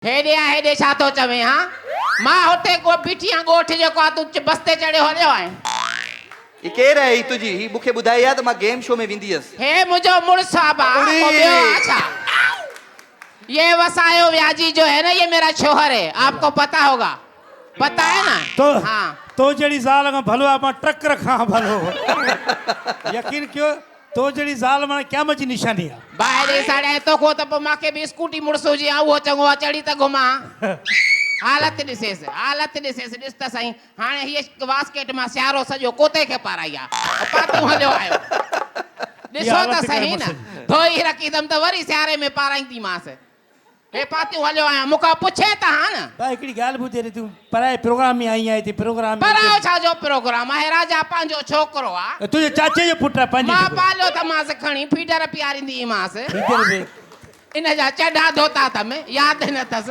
هيڏي آء هيڏي ڇا ٿو چوين ها؟ مان هتي ڪو بيٺيان ڳوٺ جو ڪو تون اچ بس تي چڙهيو هليو آهين. هي ڪير آهي هي تنهنجي هي مون کي ٻڌائي ها ته مان گيم شو ۾ ويندي هيس. هي منهنجو مڙس آ ڀاء اڙي. ڪو ٻيو آ ڇا؟ يي وسايو وياجي جو هي نه يي ميرا شوهر هي آپ ڪو پتا هوگا پتا هي نه تو ها. تو جهڙي زال کان ڀلو آ مان ٽرڪ رکان ها ڀلو يقين ڪيو. تو جهڙي زال ماڻي قيامت جي نشاني آ. ڀائري ساڙيائين توکو ته پوء مان کي به اسڪوٽي مڙس هجي ها اهو چڱو آ چڙهي ته گهمان. حالت ڏسيس حالت ڏسيس ڏس ته سهين هاڻي هيء واسڪيٽ مان سيارو سڄو ڪوتي کي پارائي آ پاتون هليو آيو ڏسو ته سهين ڌوئي رکيندم ته وري سياري ۾ پارائينديمانس هي پاتيون هليو آهيان مون کان پڇين ته ها نه. ڀاء هڪڙي ڳالهه ٻڌ ياري تون پرائي پروگرام ۾ آئين آهين تي پروگرام ۾ پرايو ڇا جو پروگرام آهي راجا پنهنجو ڇوڪرو آ. ته تنهنجي چاچي جو پٽ آ پنهنجي ڇوڪرو. مان پاليو ته مانس کڻي فيڊر پياريندي هئي مانس. فيڊر به. ان جا چڊا ڌوتا تم ياد نه اٿس.